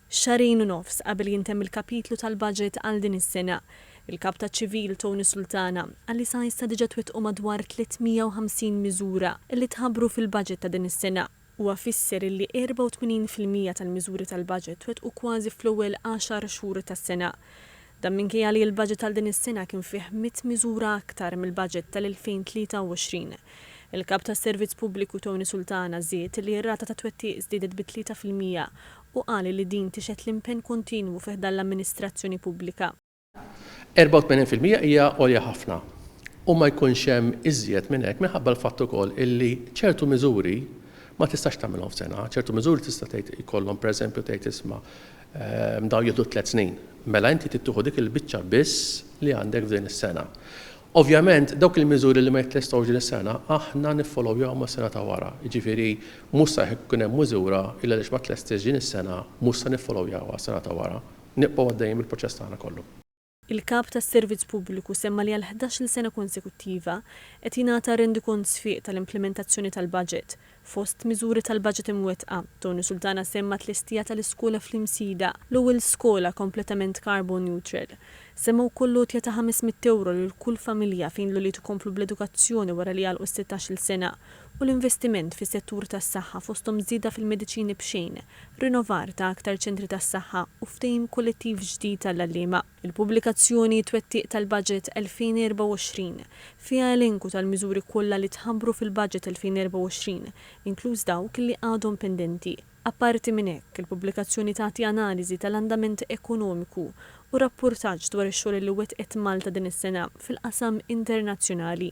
Xahrejn u nofs qabel jintemm il-kapitlu tal-baġit għal din is-sena, il-Kap taċ-Ċivil, Tony Sultana, qal li sa issa diġà twettqu madwar 350 miżura li tħabbru fil-baġit ta' din is-sena. Huwa fisser illi 84 fil-mija tal-miżuri tal-baġit twettqu kważi fl-ewwel għaxar xhur tas-sena. Dan minkejja li l-baġit għal din is-sena kien fih mitt miżura aktar mill-baġit tal-2023. Il-Kap tas-Servizz Pubbliku Tony Sultana żied li r-rata ta' twettiq żdiedet bi tlieta fil-mija u qal li din tixhed l-impenn kontinwu fi ħdan l-amministrazzjoni pubblika. 84 fil-mija hija għolja ħafna u ma jkunx hemm iżjed minn hekk minħabba l-fatt ukoll illi ċertu miżuri ma tistax tagħmilhom f'sena, ċertu miżuri tista' tgħid jkollhom pereżempju tgħid isma' dawn jieħdu tliet snin. Mela inti trid tieħu dik il-biċċa biss li għandek f'din is-sena. Ovvjament, dawk il-miżuri li ma jittestgħux din is-sena aħna niffolowjahom għas-sena ta' wara, jiġifieri mhux sa jekk ikun hemm miżura li għaliex ma tlestitx din is-sena mhux se niffolowjawha għas-sena ta' wara. Nibqgħu għaddejjin bil-proċess tagħna kollu. Il-Kap tas-Servizz Pubbliku semma li għal ħdax-il sena konsekuttiva qed jingħata rendikont sfiq tal-implimentazzjoni tal-baġit, Fost miżuri tal-baġit imwettqa, Tony Sultana semma t-tlestija tal-iskola fl-Imsida, l-ewwel skola kompletament carbon neutral. Semma wkoll l-għotja ta' ħames mitt ewro lil kull familja fejn l-ulied ikomplu bl-edukazzjoni wara li jagħlqu s-sittax-il sena u l-investiment fis-settur tas-saħħa fosthom żieda fil-mediċini b'xejn, rinovar ta' aktar ċentri tas-saħħa u ftehim kollettiv ġdid għall-għalliema. Il-pubblikazzjoni Twettiq tal-Baġit 2024 fiha elenku tal-miżuri kollha li tħabbru fil-Baġit 2024, inkluż dawk li għadhom pendenti. Apparti minn hekk, il-pubblikazzjoni tagħti analiżi tal-andament ekonomiku u rappurtaġġ dwar ix-xogħol li wettqet Malta din is-sena fil-qasam internazzjonali.